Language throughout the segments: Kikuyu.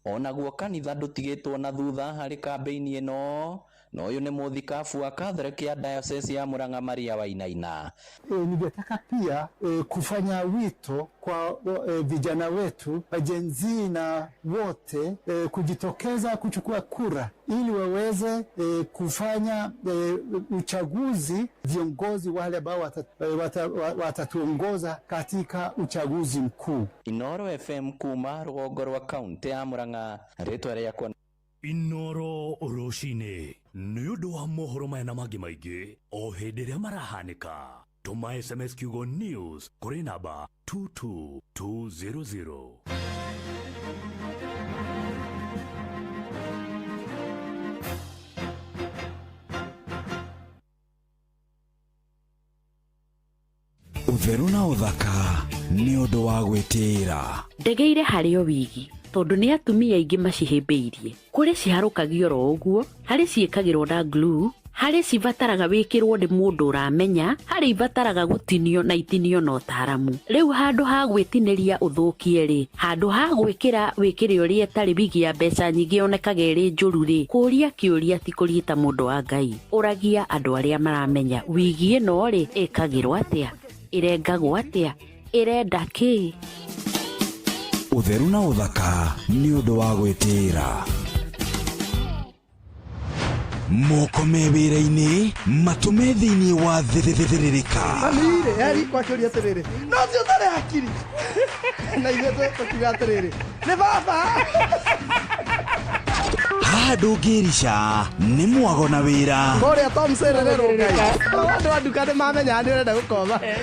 Onaguo kanitha ndũtigĩtwo na thutha harĩ kambĩini ĩno, na ũyũ nĩ mũthikabu wa Catholic ya Diocese ya Murang'a Maria Wainaina. Ningetaka pia kufanya wito kwa vijana wetu, Gen-Z na wote kujitokeza kuchukua kura ili waweze e, kufanya e, uchaguzi, viongozi wale ambao watatuongoza wata, wata katika uchaguzi mkuu. Inoro FM kuma rũgongo rwa kaunti ya Murang'a rĩtwa rĩakwa Inoro rũcinĩ nĩ ũndũ wa mohoro maya na mangĩ maingĩ o hĩndĩ ĩrĩa marahanĩka. Tũma SMS kiugo news kũrĩ namba 22200. ũtheru na ũthaka nĩ ũndũ wa gwĩtĩĩra ndegeire harĩ o wigi tondũ nĩ atumia aingĩ macihĩmbĩirie Kũrĩ ciharũkagio oro ũguo, harĩ ciĩkagĩrwo na glue, harĩ cibataraga wĩkĩrwo nĩ mũndũ ũramenya, harĩ ibataraga gũtinio na itinio na ũtaaramu. Rĩu handũ ha gwĩtinĩria ũthũkie-rĩ, handũ ha gwĩkĩra wĩkĩre ũrĩa ĩtarĩ wigi ya mbeca nyingĩ yonekaga ĩrĩ njũru-rĩ, kũria kĩũria ti kũria ta mũndũ wa Ngai. Ũragia andũ arĩa maramenya wigi ĩno-rĩ, ĩkagĩrwo atĩa? Ĩrengagwo atĩa? ĩrenda kĩĩ ũtheru na ũthaka nĩ ũndũ wa gwĩtĩĩra moko me wĩra-inĩ matũ me thĩinĩ wa thĩrĩrĩka Amire, eri kwakĩũria atĩrĩrĩ no ti ũtarĩ hakiri na ithuĩ tũ- tũkiuga atĩrĩrĩ nĩ baba haha ndũngĩrica nĩ mwago na wĩra kũrĩa tom serererwo ngai andũ a nduka nĩ mamenya nĩ ũrenda gũkoma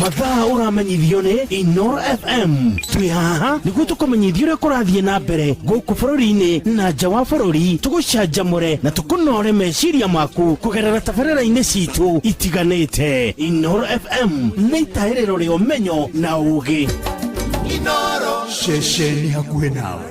mathaa ũramenyithio nĩ inor fm twĩ haha nĩguo tũkũmenyithia ũrĩa kũrathiĩ na mbere gũkũ bũrũri-inĩ na nja wa bũrũri tũgũcanjamũre na tũkũnore meciria maku kũgerera tabarĩra-inĩ citũ itiganĩte inor fm nĩ itahĩrĩro rĩa ũmenyo na ũũgĩ ceceni hakuhĩ nawe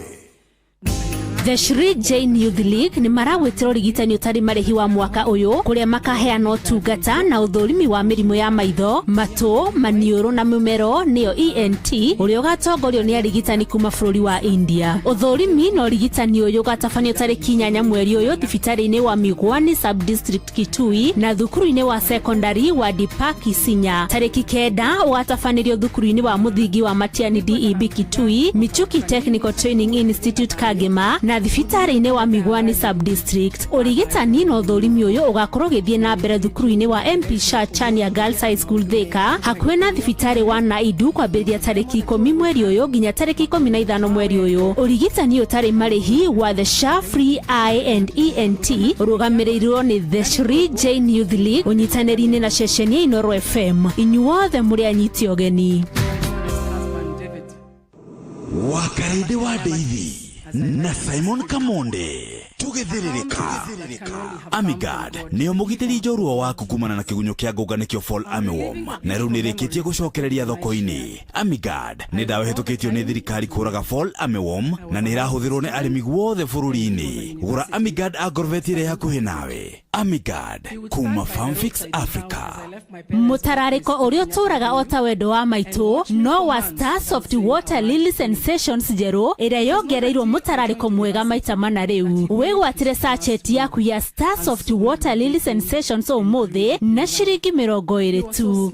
The Shri Jain Youth League nĩ maragwĩtĩra ũrigitani ũtarĩ marĩhi wa mwaka ũyũ kũrĩa makaheana ũtungata na ũthũrimi wa mĩrimũ ya maitho, matũ, maniũrũ na mũmero nĩyo ENT ũrĩa ũgatongorio nĩ arigitani kuma bũrũri wa India. Ũthũrimi na ũrigitani ũyũ ũgatabanio tarĩki inyanya mweri ũyũ thibitarĩ-inĩ wa Migwani Sub District Kitui na thukuru-inĩ wa sekondari wa Deepak Isinya. Tarĩki kenda ũgatabanĩrio thukuru-inĩ wa mũthingi wa Matiani DEB Kitui, Michuki Technical Training Institute Kagema na thibitarĩ-inĩ wa Migwani Sub District. Ũrigitani na ũthũrimi ũyũ ũgakorwo ũgĩthiĩ na mbere thukuru-inĩ wa MP Shah Chania Girls High School Thika hakuhĩ na thibitarĩ wa Naidu kwambĩrĩria tarĩki ikũmi mweri ũyũ nginya tarĩki ikũmi na ithano mweri ũyũ. Ũrigitani ũtarĩ marĩhi wa the cha free i and ent rũgamĩrĩirwo nĩ the shri jain youth league ũnyitanĩri-inĩ na ceceni ya inoro fm inyuothe mũrĩ anyiti ũgeni wakarĩndĩ wa ndeithi na simon kamonde tũgĩthĩrĩrĩka amigad nĩyo mũgitĩri njorua waku kumana na kĩgunyũ kĩa ngũnga nĩkĩo fall armyworm na rĩu nĩrĩkĩtie gũcokereria thoko-inĩ Amigard nĩ ndawa ĩhĩtũkĩtio nĩ thirikari kũraga fall armyworm na nĩ ĩrahũthĩrwo nĩ arĩmi guothe bũrũri-inĩ gũra Amigard agorveti ĩrĩa hakuhĩ nawe Amigard kuma Farmfix Africa mũtararĩko ũrĩa ũtũraga o ta wendo wa maitũ no wa Star Soft Water Lily Sensations njerũ ĩrĩa yongereirwo mũtararĩko mwega maita mana rĩu wĩgwatĩre sachet yaku ya Star Soft Water Lily Sensations ũmũthĩ na ciringi mĩrongo ĩrĩ tu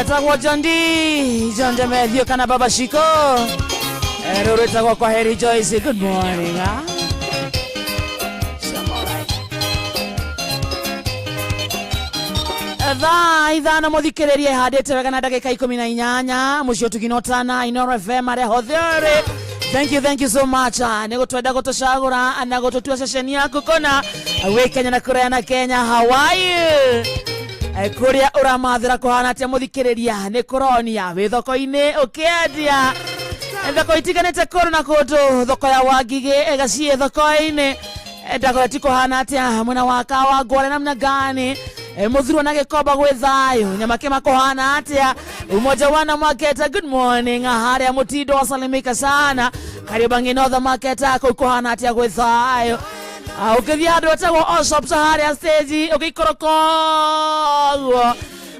etagwo jondi jonde methio kana baba shiko Eh, rũrũ ĩtagwo kwa heri joyce good morning ah. thaa ithano mũthikĩrĩrie handĩte wega na ndagĩka ikũmi na inyanya mũciĩ ũtuginotana inoro fm arĩa hotherĩ thank you thank you so much Ah, nĩ gũtwenda gũtũcagũra na gũtũtua ceceni yaku kona wĩ kenya na kũraya na kenya hawaii Eh, kũrĩa ũramathĩra kũhana atĩa mũthikĩrĩria nĩ kũronia wĩ thoko-inĩ ũkĩendia Eh, thoko itiganĩte kũndũ na kũndũ thoko ya wangigĩ ĩgaciĩ thoko-inĩ Eh, ndagore ti kũhana atĩa mwena wa kawa ngware namna gani Eh, mũthurwo na gĩkomba gwĩ thayũ nyamake makũhana atĩa umoja wana maketa good morning harĩa mũtindo wasalimika sana karibangi notha maketa kũu kũhana atĩa gwĩ thayũ Ah, ũkĩthiĩ handũ hetagwo all shops harĩa stage ũgĩikoroka ũguo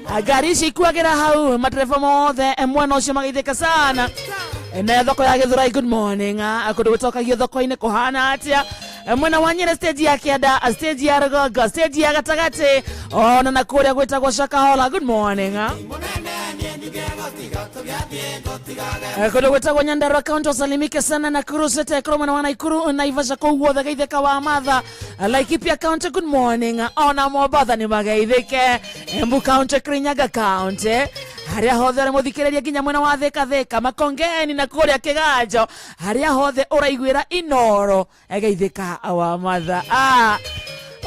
Ah, ngari ici ikuagĩra hau matereba mothe eh, mwena ũcio magĩithĩka sana Eh, nayo thoko ya gĩthurai good morning Ah, kũndũ gũtokagio thoko-inĩ kũhana atĩa Eh, mwena wa nyere stage ya kĩanda ah, stage ya rũgongo stage ya gatagatĩ ona na kũrĩa gwĩtagwo shakahola good morning Ah. Eh, kundu gwitagwo nyandarua kaunti usalimike sana na kurusete kurumwe na wanaikuru naivasha kuu guothe geithika wa matha Eh, laikipia county good morning ona mobatha ni mageithike embu county kirinyaga county haria hothe uri muthikiriria nginya mwena wa thika thika makongeni na kuria kiganjo haria hothe uraiguira inoro egeithĩka wa matha ah.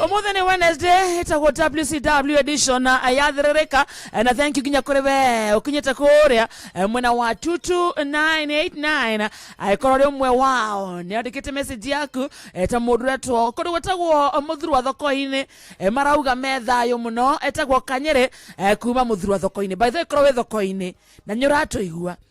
umuthi ni wednesday itagwo wcw edition na yathirĩrĩka Eh, na thank you nginya kũrĩ we ũkinyĩte kũrĩa eh, mwena wa 22989 angĩkorwo rĩ ũmwe wao nĩ andĩkĩte message yaku eh, ta mũndũ ũretwo kũndũ gwĩtagwo mũthuru wa thoko-inĩ eh, marauga me thayũ mũno etagwo kanyĩrĩ eh, kuma mũthuru wa thoko-inĩ by the way korwo wĩ thoko-inĩ na nĩ ũratũigua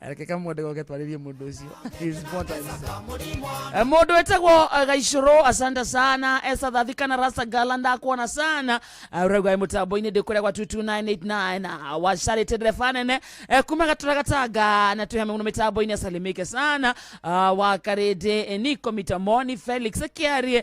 reke kamwende goke twarĩrie mũndũ ũcio He is important. Eh, mũndũ wĩtagwo eh, gaicũrũ asante sana esa thathikana rasa gala ndakuona sana Eh, ũraigua ĩ mũtambo-inĩ ndĩ kũrĩa gwa 22989 wacarĩte ndereba nene Eh, kuma gatũra gatanga na twĩhame mũno mĩtambo-inĩ asalimike sana Ah, wa karĩndĩ eh, niko mitamoni felix kĩarie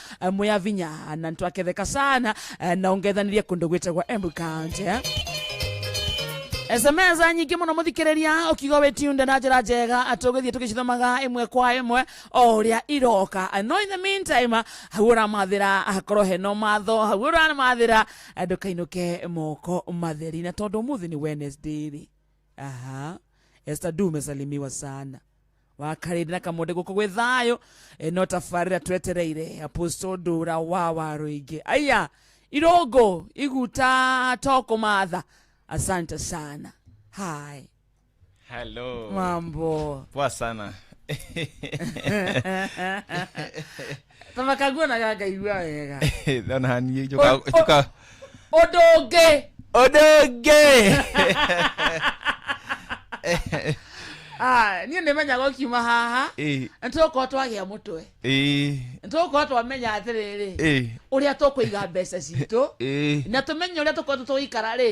eh, mwĩ avinya na ntwaketheka sana eh, na ũngethanĩrie kũndũ gwĩtagwa Embu County eh. SMS nyingĩ mũno mũthikĩrĩria ũkiuga wĩ tunde na njĩra njega atĩ ũgĩthiĩ tũgĩcithomaga ĩmwe kwa ĩmwe o ũrĩa iroka no in the meantime hau ũramathĩra hakorwo heno matho hau ũramathĩra ndũkainũke moko matheri na tondũ ũmũthĩ nĩ Wednesday rĩ aha Esther du umesalimiwa sana wakarĩte na kamũndĩ gũkũ gwĩ thayũ e, no tabarĩra twetereire apostle ndũra wa wa rũingĩ aya irũngũ iguta to kũmatha asante sana hai hello mambo poa sana ta makaguonaga ngaigua wega ona haniä Oi, oi. ũndũ ũngĩ å ndå ngä Ah, niĩ nĩ menyaga ũkiuma haha nĩ tũgũkorwo twagĩa mũtwe nĩ tũgũkorwo twamenya atĩrĩrĩ ũrĩa tũkũiga mbeca citũ na tũmenye ũrĩa tũkoretwo tũgĩikara rĩ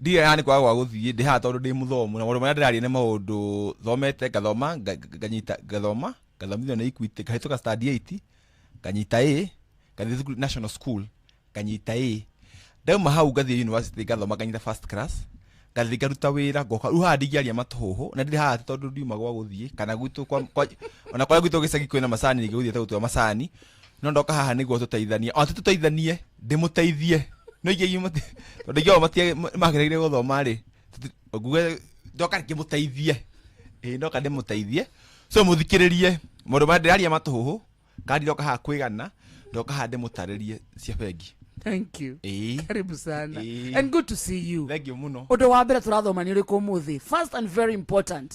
ndirĩ haha nĩ kwaga gwa gũthiĩ ndĩ haha tondũ ndĩ mũthomu na maũndũ marĩa ndĩraria nĩ maũndũ thomete ngathoma nga- nga- nganyita ngathoma ngathomithio nĩ Equity ngahĩtũka stand 8 nganyita A ngathiĩ thukuru national school nganyita A ndauma hau ngathiĩ university ngathoma nganyita first class ngathiĩ ngaruta wĩra ngoka rĩu haha ndingĩaria matũhũhũ na ndirĩ haha atĩ tondũ ndiuma gwa gũthiĩ kana gwitũ kwa, kwa, ona kũrĩa gwitũ gĩcagi kwĩna macani rĩngĩ gũthiĩte gũtua macani no ndoka haha niguo tuteithanie ona ti tuteithanie ndimuteithie no ingĩ mati tondu ingĩ mati magereire guthoma ri nguge ndoka rĩngĩ mũteithie ĩĩ ndoka ndĩmũteithie so mũthikĩrĩrie maũndũ marĩa ndĩraria matũhũhũ kana ndiroka haha kwĩgana ndoka haha ndĩmũtarĩrie cia bengi thank you ĩĩ karibu sana Ĩĩ. and good to see you thengiũ mũno ũndũ wa mbere tũrathoma nĩ ũrĩkũ ũmũthĩ first and very important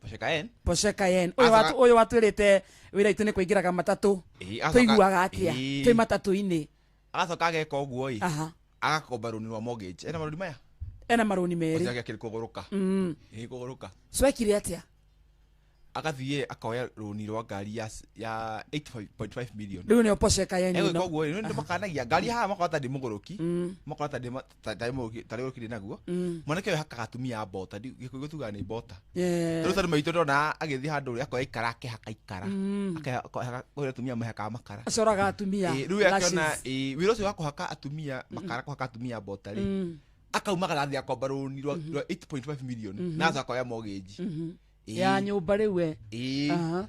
Porsche Cayenne. Porsche Cayenne. Uyu Acoka- watu uyu watwirite wira itu ni kuingiraga matatu. Ĩĩ, acoka- Tuiguaga atia? Ĩĩ. Twi matatu-ini. agacoka ageka ũguo ĩ Aha. agakomba rũni rwa mortgage ena marũni maya Ena maruni meri. ũcio agĩakĩrĩ kũgũrũka Mm. ĩĩ kũgũrũka Swekire atia? agathiĩ akoya rũni rwa ngari ya s- ya 8.5 million Riu ni Porsche Cayenne egwĩka ino. ũguo ĩ nĩ makanagia ngari haha makora ta ndĩmũgũrũki Mm. makora ta ndĩma- ta ta rĩmwe ũngĩ- ta rĩu ũkĩrĩ naguo Mm. mwanake ũyũ hakaga atumia a mbota ndi- gĩkũyũ tugaga nĩ mbota Eh, rĩu tondũ maitũ ndona agĩthiĩ handũ ũrĩa akoya ikara akĩhaka ikara mm. Akĩha- akĩhaka- kũrĩa atumia mahakaga makara acoraga atumia Ĩ, rĩu akiona lashes. ĩ, wĩra ũcio wa kũhaka atumia makara kũhaka atumia mbota rĩ Mm, akaumaga nathi akomba rũni rwa rwa 8.5 million na akoya mortgage mhm. Ĩ, ya nyũmba rĩu we ĩ, Aha.